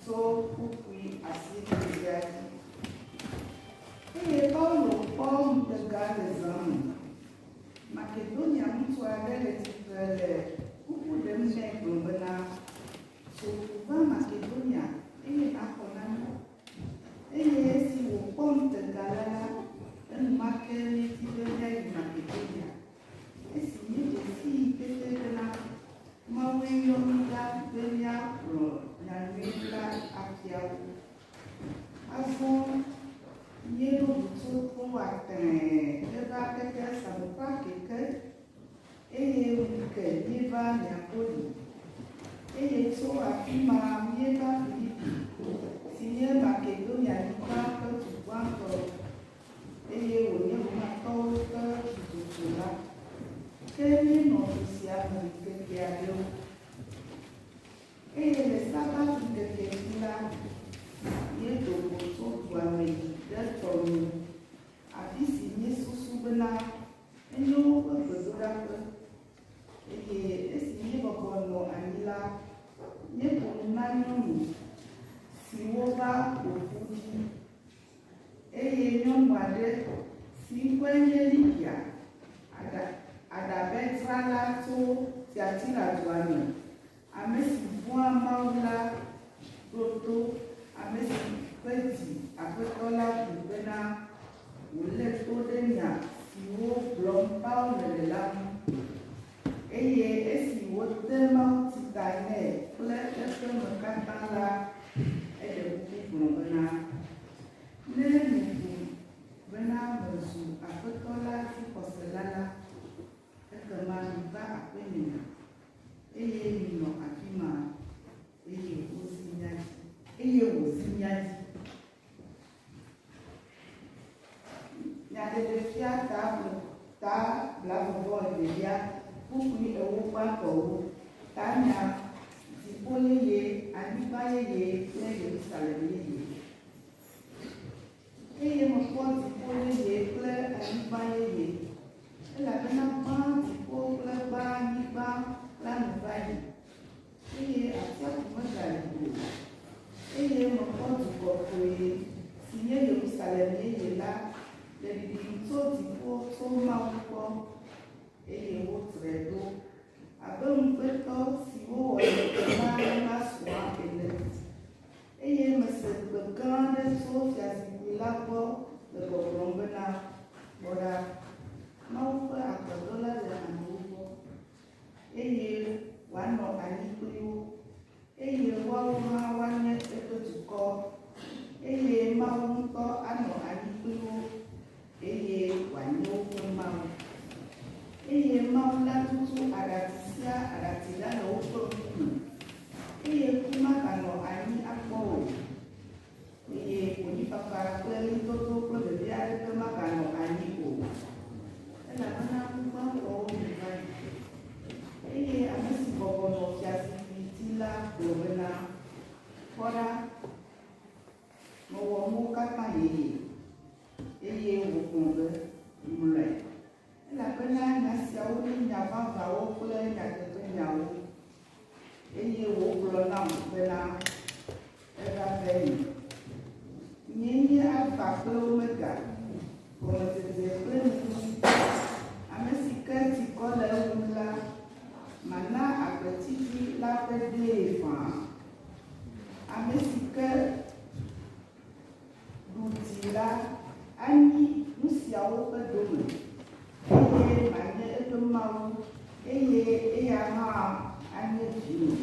Tso kpukpui asieɖeɖea dzi. Eye Paulo kpɔ ŋutega le zã me. Makedonia ŋutsu aɖe le tsitre le kuku ɖem nɛ gblɔ bena, Tso ƒu va Makedonia eye nàxɔ na mí. Eye esi wòkpɔ ŋutega la la, enumake ɣleti ʋeʋẽ yi Makedonia. Esi míeɖe sii pɛpɛ ɖe la, Mawue yɔ mí ɖa be míagblɔ nya nyui la afia wo. Azɔ míeɖo ŋu tso Troa tẽe heva keke Samotrake ke, eye ŋu ke míeva Neapoli, eye tso afi ma míeva Filipi, si nye Makedonianyigba ƒe du gbãtɔ eye wònye Romatɔwo ƒe dudutula. Ke míenɔ du sia me ŋkeke aɖewo, eye le Sabatŋkeke dzi la, míedo go tso dua me yi ɖe tɔ nu, afi si míesusu bena enye woƒe gbedoɖaƒe. Eye esi míebɔbɔ nɔ anyi la, míeƒo nu na nyɔnu siwo va ƒo ƒu ɖi. Eye nyɔnu aɖe, si ŋkɔe nye Lidia, aɖa, aɖabetrala tso Tiatira dua me, ame si vɔ̃a Mawu la, ɖo to, ame si ƒe dzi Aƒetɔ la ƒu bena wòlé to ɖe nya siwo gblɔm Paulo le la ŋu. Eye esi wode mawuti ta nɛ kple eƒe me katã la, eɖe kuku gblɔ bena, Ne miebu bena mezu Aƒetɔ la dzixɔsela la, ekema miva aƒenye, eye minɔ afi ma. Eye wozi mía dzi. Eye wòzi mía dzi. Nyateƒefia ta afɔ ta blafɔvɔevelia kpukpui ewo ƒe afɔwo, tanya, dziƒo yeye, anyigba yeye kple Yerusalem yeye. Eye mekpɔ dziƒo yeye kple anyigba yeye, elabena gbã dziƒo kple gbã anyigba la nu va yi. Eye atsiaƒu megali o, eye mekpɔ du kɔkɔe, si nye Yerusalem Yeye la, le ɖiɖim tso dziƒo tso Mawu gbɔ, eye wotrɔe ɖo abe ŋugbetɔ si wowɔ ɖeɖe na nasrɔ̃a ene. Eye mese gbe gã aɖe tso fiazikpui la gbɔ le gbɔgblɔm bena, Kpɔ ɖa, Mawu ƒe agbe ɖo la le amewo gbɔ. eye wòanɔ anyi kpli wo, eye woawo hã woanye eƒe dukɔ, eye Mawu ŋutɔ anɔ anyi kpli wo, eye wòanye woƒe Mawu. Eye Mawu la tutu aɖati sia aɖati la le woƒe ŋkume, eye ku maganɔ anyi akpɔ o. Eye konyifafa kple ɣlidodo kple vevi aɖeke maganɔ anyi o, elabena ŋugbãtɔwo nu va yi. Eye ame si bɔbɔ nɔ fiazikpui dzi la gblɔ bena, Kpɔ ɖa, mewɔ nuwo katã yeye. Eye wògblɔ be, Mlɔe, Elabena nya siawo nye nya vavãwo kple nyateƒenyawo. Eye wògblɔ nam bena, Eva venye. Nyee nye Alfa kple Omega, gɔmedzedze kple nuɖusitɔ. Ame si ke ti kɔ le eŋu la, mana agbetsitsi la ƒe dee ƒãa. Ame si ke. Ɖu dzi la, anyi nu siawo ƒe dome, eye manye eƒe Mawu, eye eya hã anye vinye.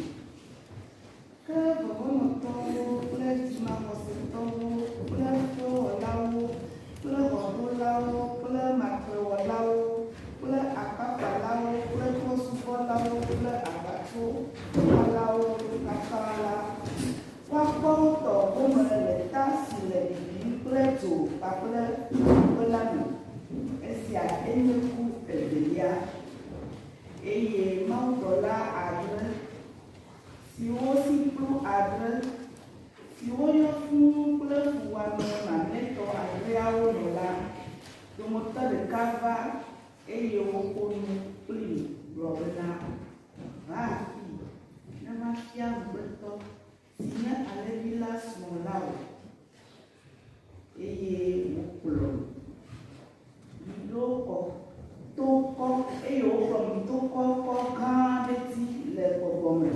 Ke vɔvɔ̃nɔtɔwo kple dzimavɔsetɔwo kple fewɔlawo kple ʋɔnulawo kple matrewɔlawo kple akpakpalawo kple trɔ̃subɔlawo kple aʋatsowɔlawo katã la, Woakpɔ wo tɔ gome le ta si le bibim kple dzo kpakple ƒukpe la me. Esia enye ku evelia. Eye mawudɔla adre, siwo si kplu adre, siwo yɔ fũu kple fuwɔame mamlɛtɔ adreawo me la dometɔ ɖeka va, Eye woƒo nu kplii gblɔ bena, Va afii, ne mafia ŋugbetɔ, si nye alẽvi la srɔ̃ la wò. Eye wokplɔ yi ɖo kɔ to kɔ, eye wokplɔ yi to kɔ kɔ gã aɖe dzi le gbɔgbɔ me,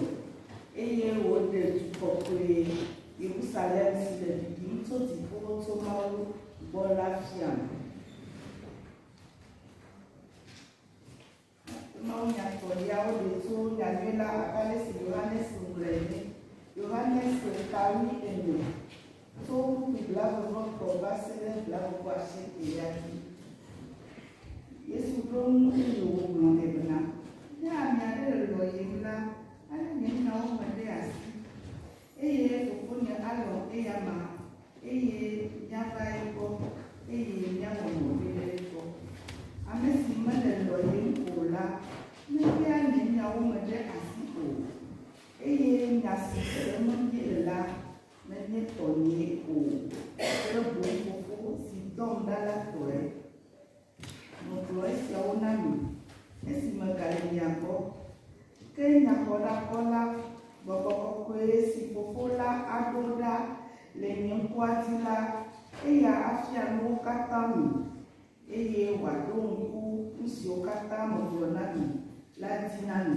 eye wòɖe du kɔkɔe, Yerusalem si le ɖiɖim tso dziƒo tso Mawu gbɔ la fiam. Mawunyagblɔɖiawo ɖi tso nyanyui la abe ale si Yohanes ŋlɔe ene. Yohanes se tawui ene, tso ƒuƒu blagogbɔtɔ va se ɖe blagogbɔ asiekɛlia dzi. Yesu ɖo ŋu eye wògblɔ nɛ bena, Ne ame aɖe le lɔ̃yem la, alé nye nyawo me ɖe asi. Eye Fofonye alɔ̃ eyama, eye míava egbɔ, eye míawɔ nɔƒe ɖe egbɔ. Ame si mele lɔ̃yem o la mebia nye nyawo me ɖe asi o, eye nya si sem míele la menye tɔnyee o, ke boŋ Fofo si dɔm ɖa la tɔe. Megblɔ esiawo na mi, esi megale mia gbɔ. Ke Nyaxɔɖatɔ la, Gbɔgbɔ Kɔkɔe si Fofo la aɖo ɖa le nye ŋkɔa dzi la, eya afia nu wo katã mi, eye wòaɖo ŋku nu siwo katã megblɔ na mi la dzi na mi.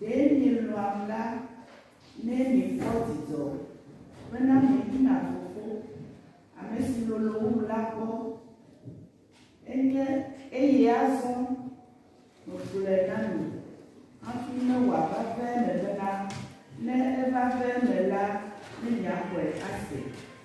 Ɖe mielɔ̃am la, ne miekpɔ dzidzɔ bena mieyina Fofo, ame si lolo wum la gbɔ, enye eye azɔ megblɔe na mi hafi ne wòava ƒe eme bena, ne eva ƒe eme la, ne miaxɔe ase.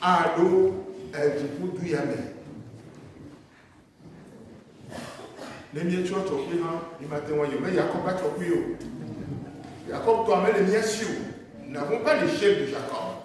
aɖo dziƒodu ya me. Ne míetsɔ tsɔkui hã, mímate ŋu ayɔ be Yakob va tsɔkui o. Yakob tɔa mele mía si o. Nous n'avons pas l'échelle de Jacob.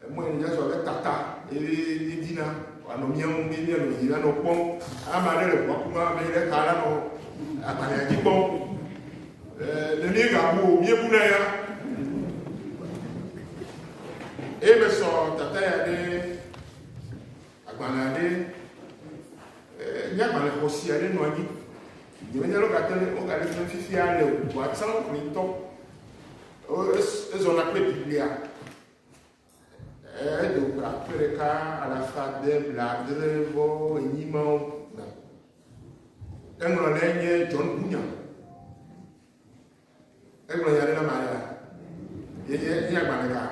Emɔe ne míasɔ ɖe tata eye míedina wòanɔ mía ŋu eye míanɔ dzi la nɔ kpɔm. Ame aɖe le ʋua kum ame ɖe ta la nɔ agbalẽa dzi kpɔm. Ne míegabu o, míebuna ya. Eye mesɔ tata ya ɖe agbalẽa ɖe nye agbalẽ xɔsi aɖe nɔ anyi. Nyemenya lɔ gate ɖe wogaɖe fia fifia le ʋua tsã ŋutɔ. Ezɔna kple Biblia. Edo go akpe ɖeka alafa ade blaadre vɔ enyi mawo me. Eŋlɔ ɖe nye John Bunyan. Egblɔ nya ɖe na ma ya. Yenye nye agbalẽ ka.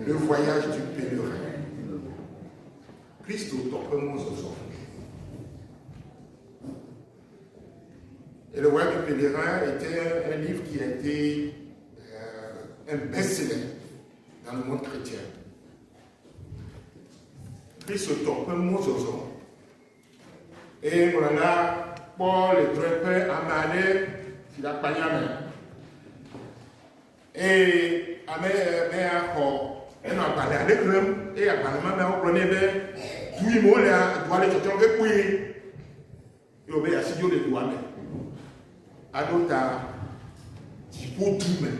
Le voyage du pèlerin. Kristo tɔ ƒe mɔzɔzɔ. Ele Wikipedia na ete livre qui a été euh, un best-seller dans le monde chrétien. Kristotɔ ƒe mɔzɔzɔ. Eye ŋlɔla kpɔ le drɔe ƒe ame aɖe si le akpanya me. Eye ame mea xɔ enɔ agbalẽ aɖe xlẽm, eye agbalẽ ma meawo gblɔ nɛ be, du yi me wolea, dua le tsɔtsɔm ke kpui, ye wòbe yeasi dzo le dua me aɖo ta dziƒo du me.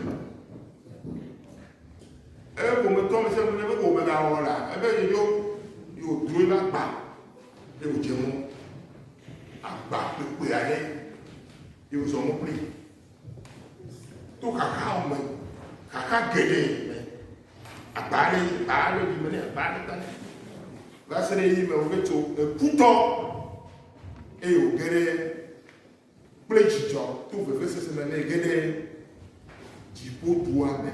Eye ƒometɔ me sia ƒometɔ ko megawɔ la, ebe yedzo, ye wòdro eƒe agba, ye wòdze mɔ. Agba kpekpe aɖe, ye wòzɔ mɔ kpli. to xaxa me xaxa geɖe me agba aɖe yi agba aɖe yi me ne agba aɖe ta va se ɖe yi me wòge tso ekutɔ eye wòge ɖe kple dzidzɔ to vevesese me ne ge ɖe dziƒodua me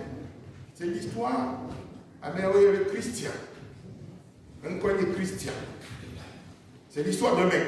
c'est l'histoire amewo yɔ be christian eŋkɔ nye christian c'est l'histoire d'un mec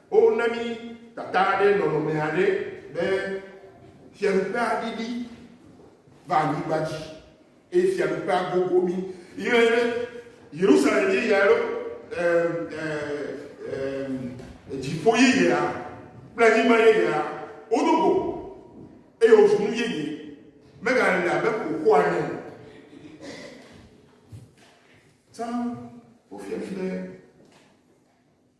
O na mí tata ɖe nɔnɔme aɖe be fiaɖuƒea ɖiɖi va anyigba dzi, eye fiaɖuƒea gogo mí. Yɔe ɖe Yerusalem yeyea ɖo, dziƒo yeyea kple anyigba yeyea wodo go, eye wòzu nu yeye, megale le abe xoxoa ene o. Tsã wofia mí be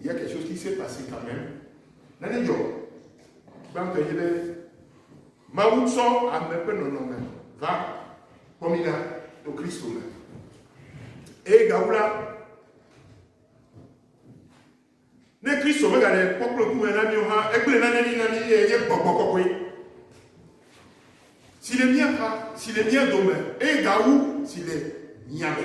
Il y a quelque chose qui s'est passé quand même. Nane dzɔ. Gbãtɔ nye be Mawu tsɔ ame ƒe nɔnɔme va kpɔ mí ɖa to Kristo me. Eye gawu la, ne Kristo megaɖe kpɔkplɔ kume na míwo hã, egblẽ nane ɖi na mí eye nye gbɔgbɔ kɔkɔe si le mía xa, si le mía dome, eye gawu si le mía me.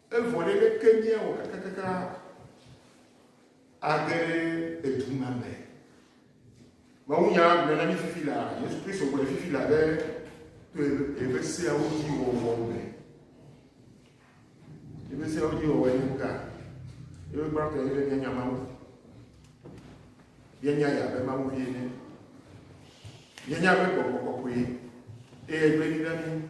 Evɔ ɖe leke miawɔ kakakaka age ɖe edu ma me? Mawunya gblɔe na mi fifi la, Yesu Kristo gblɔe fifi la be to eƒe seawo dzi wɔwɔ me. Eƒe seawo dzi wɔwɔ ye ka? Eƒe gbãtɔ ye be mianya Mawu. Mianya ya be Mawu vie ne. Mianya be gbɔgbɔ kɔkɔe eye gbe ɖi ɖe mi.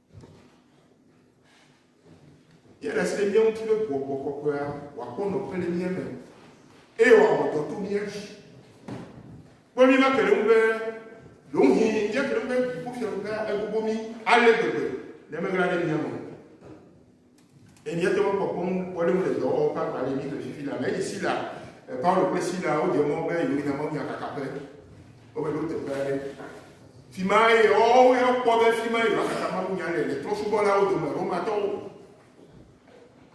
Yele se mía ŋuti be gbɔgbɔ kɔkɔea wòakpɔ nɔƒe le mía me eye wòawɔ dɔ to mía dzi. Kpɔ mí make ɖe ŋu be ɖewohĩ míate ŋu be dziƒofiaɖuƒea egogo mí ale gbegbe ne meɣla ɖe mía me o. Eye míate ŋu akpɔ kpɔ nukpɔɖeŋu le dɔwɔwɔ ƒe agba le Egipte fifi la me. Esi Sila, Paulo kple Sila wodze mɔ be yewoyina mawunya kaka ƒe, womeɖo teƒe aɖe. Fi mae yewoawo ya kpɔ be fi mae yewoakaka mawunya le, le trɔ̃subɔlawo dome, Romatɔwo,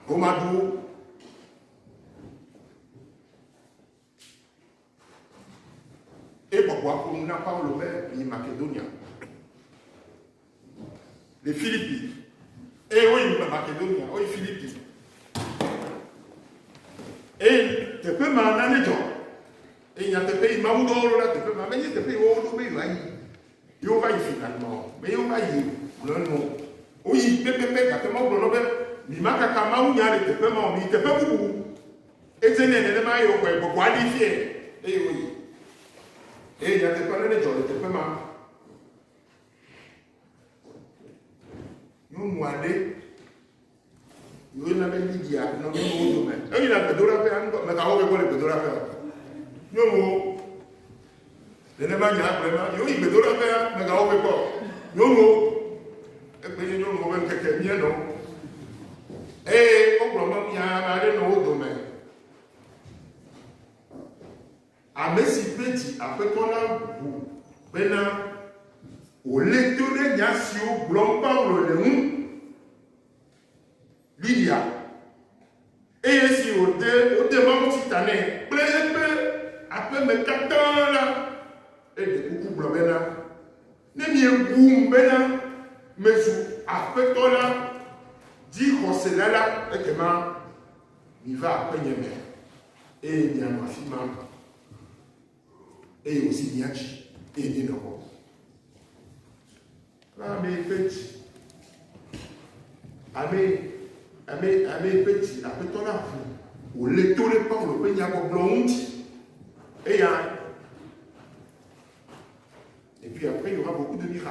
Romaduwo. Eye gbɔgbɔa ƒo nu na Paulo be, Yi Makedonia. Le Filipi. Eye woyi Makedonia, woyi Filipi. Eye teƒe ma na ne dzɔ. Eye nyateƒe yi Mawu ɖo ɖo na teƒe ma, menye teƒe yi wowo ɖo be yewoayi. Yewo va yi fi na nɔ, be yewo va yi gblɔ nɔ. Woyi pɛpɛpɛ gake Mawu gblɔ nɔ be, Mi makaka Mawu nya le teƒe ma o, mi teƒe bubu. Edze nɛ nenema eye wòxɔe gbɔgbɔa ɖee fiae eye wòyi. Eye nyateƒea nane dzɔ le teƒe ma. Nyɔnu aɖe yi woyɔna be Lidia nɔ nyɔnuwo dome. Eyina gbedoɖaƒea ŋgɔ, megawɔ be gbɔ le gbedoɖaƒea. Nyɔnuwo. Nenema nye agbe ma, miwo yi gbedoɖaƒea, megawɔ ʋɛ kpɔ o. Nyɔnuwo, egbe nye nyɔnuwo ƒe ŋkeke mienɔ. Eye wogblɔ be mia ame aɖe nɔ wo dome, ame si ƒe dzi Aƒetɔ la ʋu bena wòlé to ɖe nya siwo gblɔm Paulo le ŋu. Lidia, eye esi wòde wode mawutsi ta nɛ kple eƒe aƒe me katã la, eɖe kuku gblɔ bena, Ne miebum bena mezu Aƒetɔ la dzixɔsela la, ekema miva aƒenye me, eye mianɔ afi ma. eye wòsi mia dzi eye míenɔ kpɔ. Na ame yi ƒe dzi, ame, ame, ame yi ƒe dzi Aƒetɔ la ʋu wòlé to ɖe Paulo ƒe nyagbɔgblɔ ŋuti. Eya Et puis après, il y aura beaucoup de miracles.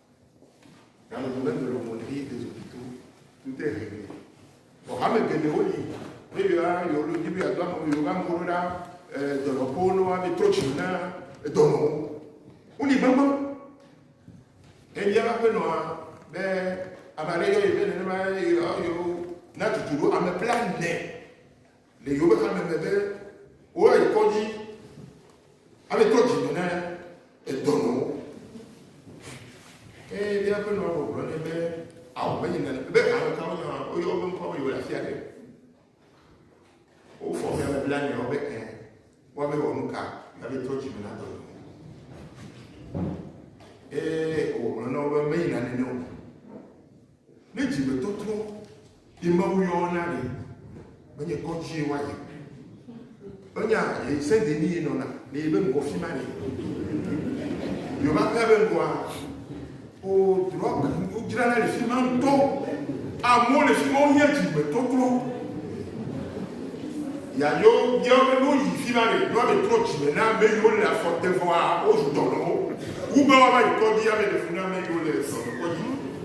Nyɔnu me melo mo ɖi ezo pito ŋute hege. Vɔ hame geɖewo li ne yɔa yewo ɖo dzi be yeado ame yewo va ŋgɔ ɖo ɖa dɔnɔƒewo ne woabe trɔ tsi na dɔnɔwo. Woli gbegbe. Ebia eƒe aƒenɔa be ame aɖe yɔ ye be nenema yɔ yewo na tutu ɖo ame blaene. Le yewoƒe hame me be woayi kɔdzi aɖetɔ dzi me na edɔnɔwo. Ke ɖe eƒe nɔa gbɔgblɔ nɛ be ao menye nane be ame kawo nya woyɔ woƒe ŋkɔ be yewoɖe asi aɖe. Wofɔ mea me bla nyawo be ɛ woabe wɔ nu ka abe tɔ dzi me na dɔnɔ. Ee wògblɔ na wo be meyi nane ne o. Ne dzimetɔtrɔ ye Mawu yɔ wo na ɖe, menye kɔdzie woayi o. Wonya ye se de ni ye nɔna le yebe ŋgɔ fi ma ne. Yo va kpe be ŋgɔa o drɔg wo dzra le fi ma ŋutɔ. Amewo le fi ma wo nye dzimetɔtrɔ. Ya yo yo be no yi fi ma ne drɔg de trɔ dzime na me yo le afɔ te vɔa o ju tɔnɔ wo. Wu be wa va yi kɔdi ya me de funa me yo le sɔ kɔdi.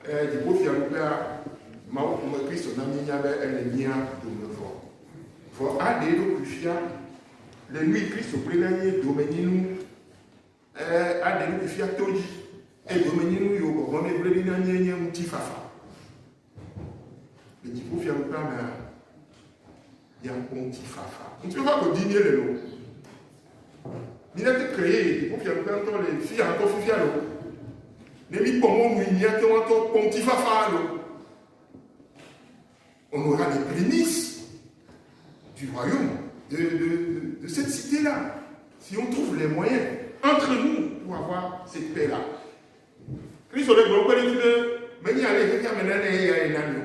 Ke dziƒofiaɖuƒea Mawu ƒome Kristo na míenya be ele mía dome vɔ. Vɔ aɖe eɖokui fia le nui Kristo kple na nye domenyinu eh, aɖe eɖokui fia to dzi eye domenyinu yiwo gbɔgbɔ ne ble ɖi na nye nye ŋutifafa. Le dziƒofiaɖuƒea mea, miakpɔ ŋutifafa. Ŋutifafa godi míele loo. Míate ke ye dziƒofiaɖuƒea ŋutɔ le fi ya ŋutɔ fifia loo. Ne míkpɔ mɔnui míate ŋu atɔ kpɔ ŋutifafa loo. On aura des prémices du royaume de, de, de, de cette cité-là, si on trouve les moyens entre nous pour avoir cette paix-là. Kristo ɖe gblɔ kpe ɖe ŋuti be menye ale xexea me nane eya ye nani o.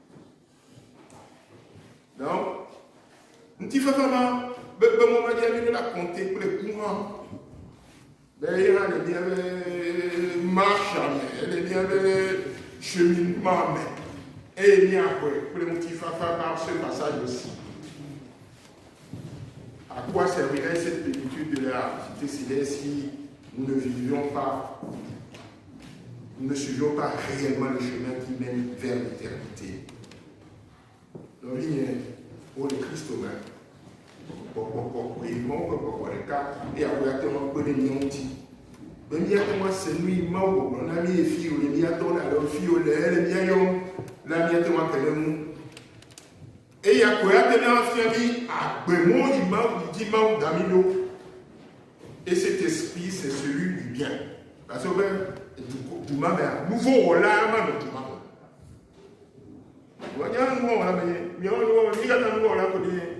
Donc, ŋutifafa ma bebe mɔ ma dzi mi la kɔnte kple ku hã be ye hã le míaƒe marcha me ele míaƒe cheminema me eye míaxɔe kple ŋutifafa na ce passage aussi. à quoi servirait cette plénitude de la cité céleste si nous ne vivions pas, nous ne suivions pas réellement le chemin qui mène vers l'éternité Nɔvinye, wole Kristo me. Kpɔkpɔkpɔ koe Mawu ƒe gbɔgbɔ ɖeka eya koe ate ŋu akpe ɖe mía ŋuti. Be míate ŋu ase nu yi Mawu gbɔgblɔ na mí fi wòle mía tɔ ɖe alo fi wòle ele mía yɔm la míate ŋu ake ɖe ŋu. Eya koe ate ŋu afia mí agbe mɔ yi Mawu yi dzi Mawu da mí ɖo. Et cet esprit c'est celui du bien. Parce que be du du ma mea nuvo wɔla ma nɔ du ma me. Wɔnya nu wɔla me mía wɔla mí katã nu wɔla ko ɖe.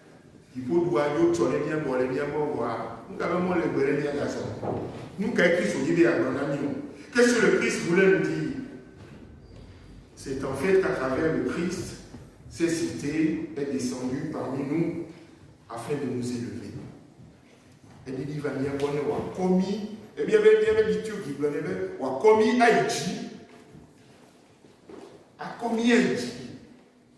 Dziƒoduwa dzo tsɔ ɖe mía gbɔ le mía gbɔ vɔa, nu ka ƒe mɔ le egbe ne míagazɔ? Nu kae Kristo di be yeagblɔ na mí o? Qu'est ce que le Christ voulait nous dire? C'est en fait qu'à travers le Christ, cette cite est descendue parmi nous afin de nous élever. Eɖiɖi va mía gbɔ ne wòakɔ mí, ebia be míaƒe liturgie gblɔ nɛ be wòakɔ mí ayi dzi, akɔ mí ayi dzi.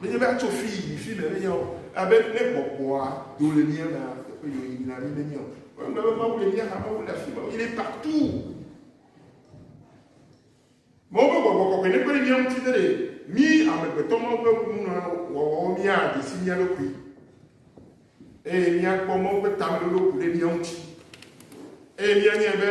Menye be atso fi yi fi le nenya o. Abe ne gbɔgbɔa do le mía mea, teƒe yi wòyi na mí menye o. Wogblɔ be Mawu le mía xa, Mawu le afi ma, il est partout. Mawu ƒe gbɔgbɔ kɔkɔe ne kpe ɖe mía ŋuti ɖe mí amegbetɔ Mawu ƒe kununɔwɔwɔwo míade si mía ɖokui eye míakpɔ Mawu ƒe tamelolo ku ɖe mía ŋuti eye míanyae be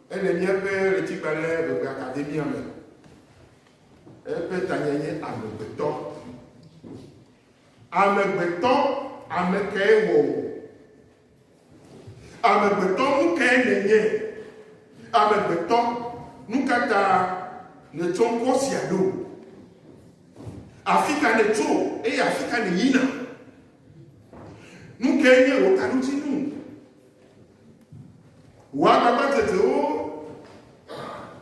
Ele míaƒe Ɣleti-gbalẽ Ŋegbeakademia me. Eƒe tanye nye Amegbetɔ. Amegbetɔ, ame kae wɔ wò? Amegbetɔ, nu kae nènye? Amegbetɔ, nu ka ta nètsɔ ŋkɔ sia ɖo? Afi ka nètso eye afi ka nèyina? Nu kae nye wò taɖodzinu? Wò agbagbatsotsoewo,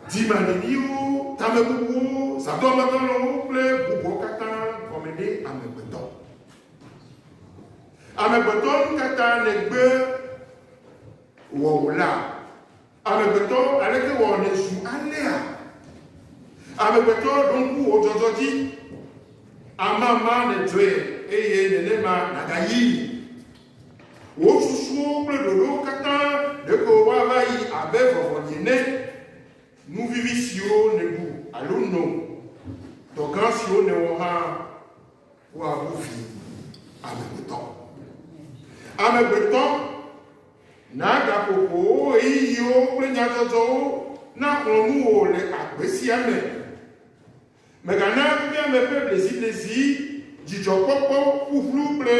dzimaɖiɖiwo, tamebubuwo, zãdɔlɔdɔlɔwo kple bubuawo katã gɔme ɖe amegbetɔ. Amegbetɔ nu ka ta nègbe wɔwò la? Amegbetɔ, aleke wɔ nèzu alea? Amegbetɔ, ɖo ŋku wò dzɔdzɔ dzi. Amama nèdzɔe eye nenema nàgayi. Wò susuwo kple ɖoɖowo katã ɖeko woava yi abe vɔvɔli ene, nu vivi siwo nèɖu alo no, dɔ gã siwo nèwɔ hã, woabu vi amegbetɔ. Amegbetɔ, na gaƒoƒowò ɣeyiɣiwo kple nyadzɔdzɔwo naxlɔ̃ nuwò le agbe sia me. Mègana nunyame ƒe bleziblezi, dzidzɔkpɔkpɔ ƒuƒlu kple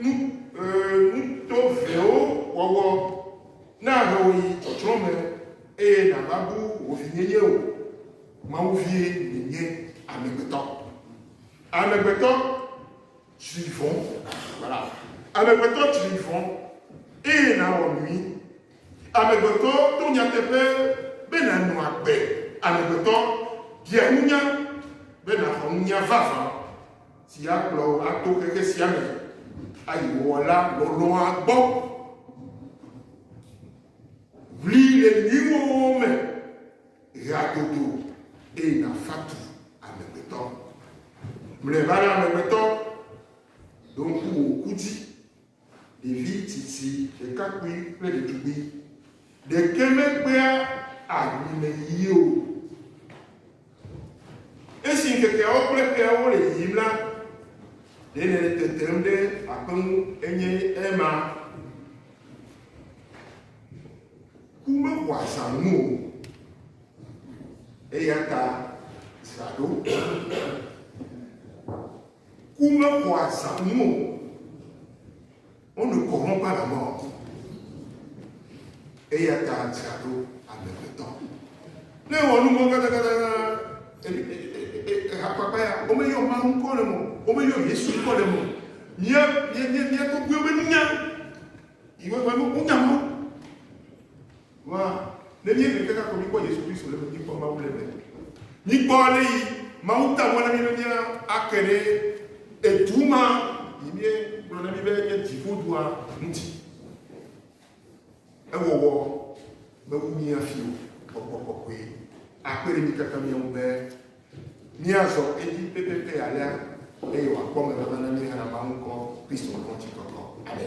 nu tovewo wɔwɔ nahe wò yi tsɔtsrɔ̃ me, eye nàbabu wò vinyenye o. Mawu vie nènye, amegbetɔ! Amegbetɔ! Tsri vɔ̃. Voilà. Amegbetɔ tsri vɔ̃ eye nàwɔ nui. Amegbetɔ to nyateƒe be nànɔ agbe. Amegbetɔ bia nunya be nàxɔ nunya vavã si akplɔ wò ato xexe sia me ayi Wɔla lɔlɔ̃a gbɔ. Ʋli le nuiwɔwɔ me. ɣea dodo eye nàfa tu amegbetɔ. Mlɔeba la, amegbetɔ, ɖo ŋku wò ku dzi. Ɖevi tsitsi, ɖekakpui kple ɖetugbui ɖeke mekpea aɖui me yiyi o. Esi ŋkekeawo kple ƒeawo le yiyim la, ɖe nèle tetem ɖe aƒe ŋu enye ema? Ku mewɔa zãnu o, eya ta dzra ɖo. Ku mewɔa zãnu o, on ne corrompt pas la mort, eya ta dzra ɖo amegbetɔ. Ne ewɔ nu vɔ̃ katakata, hakpakpa ya, womeyɔ Mawu ŋkɔ le me o, womeyɔ Yesu ŋkɔ le me o. Mía mía mía mía tɔgbuiwo menya. Yi me ƒe nukunya ma ma, ne míeɖe kaka ko míkpɔ Yesu Kristo le míkpɔ Mawu le me. Míkpɔ ale yi Mawu ta mɔ na mí be mía ake ɖe edu ma yi mie gblɔ na mí be enye dziƒodua ŋuti. Ewɔwɔ mewu mía fi o. Gbɔgbɔ kɔkɔe akpe ɖe mí katã mía ŋu be Míazɔ edzi pɛpɛpɛ alea eye wòakpɔ megbe be ne míehena Mawu ŋkɔ Kristo ŋkɔ ŋutikɔkɔ aɖe.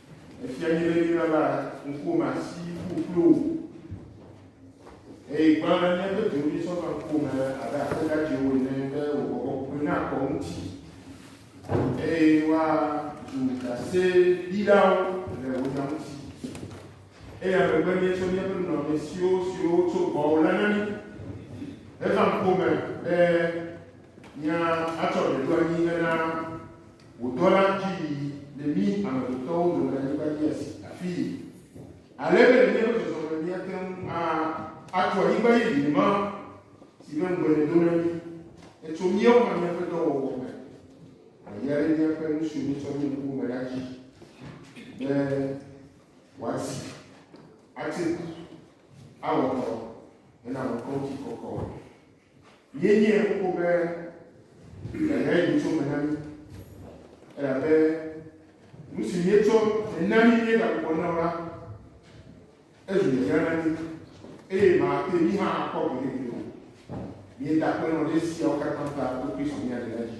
Efia mí be míava ŋkuwòme asi ƒu kpli wò. Eye gbã ɖe míaƒe dzi ŋu míesɔ va ŋkuwòme abe aƒe dzadzɛwo ene be wò bɔbɔ kpukpui nakɔ ŋuti, eye woazu ɖaseɖilawo le wò nya ŋuti. Eya megbe míetsɔ míaƒe nunɔamesiwo siwo wotso gbɔwò la na mí heva ŋkuwòme be míatsɔ ɖe ɖo anyi hena Wò dɔla di mi le mí amegbetɔwo dome anyigba dzi asi afii, ale be le míaƒe zɔzɔme míate ŋu atso anyigba yeye ma, si ƒe ŋugbe nèdo na mí ne tso míawo hã míaƒe dɔwɔwɔ me, wòayi ɖe míaƒe nu siwo míetsɔ mí ŋkuwo me ɖa dzi, be wòasi, ate ku, awɔ dɔ hena ŋkɔŋuti kɔkɔ. Ye nye ŋku be yeahe nyitso me na mí, elabe nu si míetsɔ hena mí míegagbugbɔ na o la, ezu hiahiã na mí, eye mate mí hã akpɔ gbeɖe gbeɖe o. Míeda akpe nɔ ɖe esiawo katã ta to Kristo mía Ɖela dzi.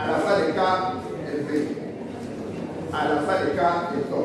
Alafa ɖeka eve, alafa ɖeka etɔ̃.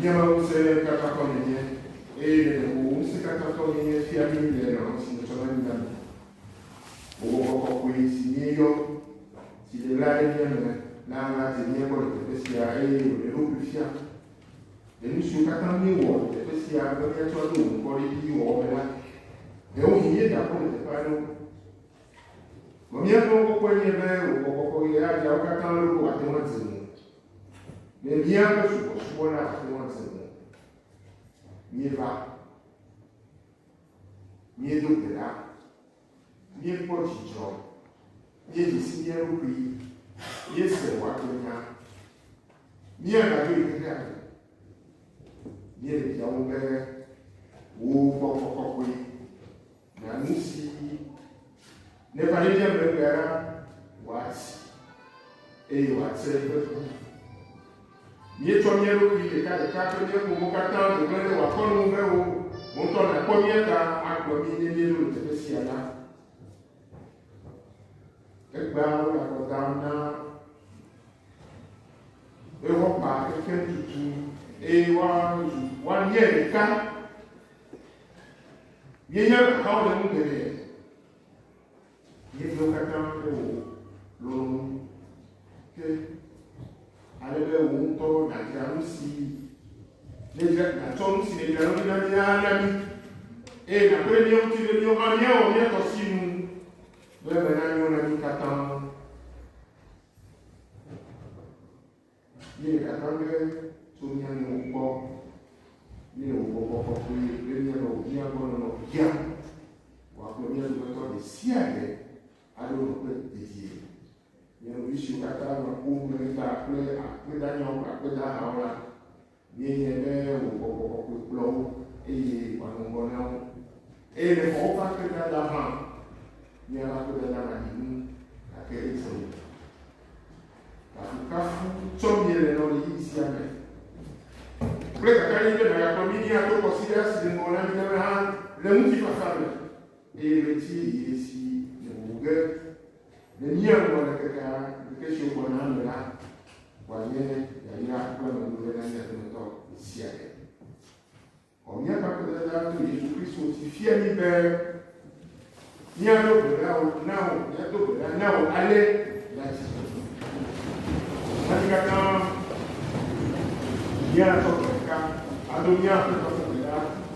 Míaƒe ŋusẽ katã tɔ nènye, eye nèɖe wò ŋusẽ katã tɔ nènye fia mí le lɔlɔ̃ si nètsɔ na mí la me. Wò ŋkɔ kɔkɔe si míeyɔ, si le ɣla ɖe mía me la nadze mía gbɔ le teƒe sia, eye wòɖe eɖokui fia. Le nu siwo katã míewɔ le teƒe sia be míatsɔ aɖo wò ŋkɔ ɖe edzi wɔwɔ me la, ɖewohĩ míedakpɔ le teƒe aɖewo. Vɔ míaƒe ŋkɔ kɔkɔe nye be wò ŋkɔ kɔkɔe ɣeaɣiawo katã loo ate ŋu adze mí. Ne míaƒe subɔsubɔ nate ŋu ase mɔ míeva, míedo gbe ɖa, míekpɔ dzidzɔ, míedzi si mía ɖokui, míese wòagbenya, míagadzo yi xexea me, míele biawo be wò gbɔgbɔ kɔkɔe Na nu si neva ɖe mía megbe la wòati, eye wòatsre eƒe ku. Míetsɔ mía ɖokui ɖekaɖeka kple mía ƒowo katã do gblẽ ɖe wò akɔnu ŋu be wò ŋutɔ nàkpɔ mía ta agblɔ mí ne míeɖo le teƒe sia la. Egbea wo le akɔ dam na Ewopa kekem tutu, eye woazu woalie ɖeka. Míenya ahawo le nu geɖe. Míeɖewo katã ƒe wò lɔlɔ̃nu ke ale be wò ŋutɔ nàdzra nu si nèdzra nàtsɔ nu si nèdzra ɖo na mí la na mí eye nàkpe ɖe mía ŋuti be míawo hã míawɔ mía tɔ si nu be eme nanyo na mí katã. Ye akpɔ be tso mía nu kpɔ ne wòbɔbɔ kɔkɔe ɖe mía me wòbia gbɔ nɔnɔ bia wòakplɔ mía dometɔ ɖe sia ɖe aɖo nɔƒe dedie. Mía nɔvi siwo katã nɔ kpom le mía ta kple akpedanyawo kple akpedahawo la, Míehiã be wò gbɔgbɔ kɔkɔe kplɔ wo eye wòanɔ ŋgɔ na wo. Eye ne xɔ woƒe akpedada hã, míaƒe akpedada maɖi nu, gake etsɔ yi. Kafukafu tsɔ míele nɔ ɣeyiɣi sia me. Kple kakaɖedzi be nàgakplɔ mí ɖi ato kɔsiɖa si le ŋgɔ na mí la me hã le ŋutifafa me, eye ɣleti yeye si nèʋuʋu ge. Ne míewɔ ɖekeke alea, ŋkeke siwo gbɔna la me la, wòanye yayra kple amenuveve na mía dometɔ ɖe sia ɖe. Xɔ míaƒe Aƒetɔ la to Yesu Kristo ŋuti fia mí be míaɖo gbe ɖa wò na wò, míado gbe ɖa na wò ale míatsi tsitre. Na mí katã míatsɔ gbe ɖeka ado mía Aƒetɔ ƒe gbe ɖa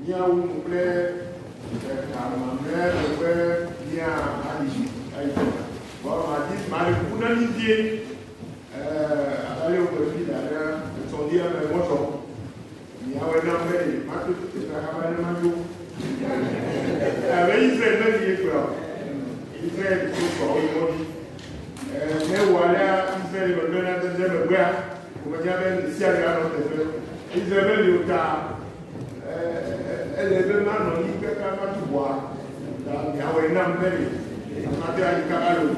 Míawu nu kple eka mamlɛa gbe be míayi edzi. Vɔ madi mali ƒu na mí vie. Ee, aɖale wogbe fi da ɖe etsɔlia me mɔzɔ. Miawe na be mato to teƒe hã va ne maɖo. Abe Israel meli ye gblɔ. Israel to sɔ wo yi mɔdzi. Ee, ne wòalea Israel megbe na dede megbea, Wòmenya be ame sia ame anɔ teƒe si ze meli o ta ele be manɔ anyi kaka va tu ʋɔa. Ta miawɔe nam be mate ayi kaka loo.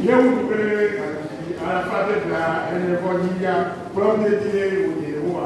Nye ŋutsu kple gaxɔsi alafa ade bla ene vɔ dzi ya kplɔm dedie wònye Yehowa.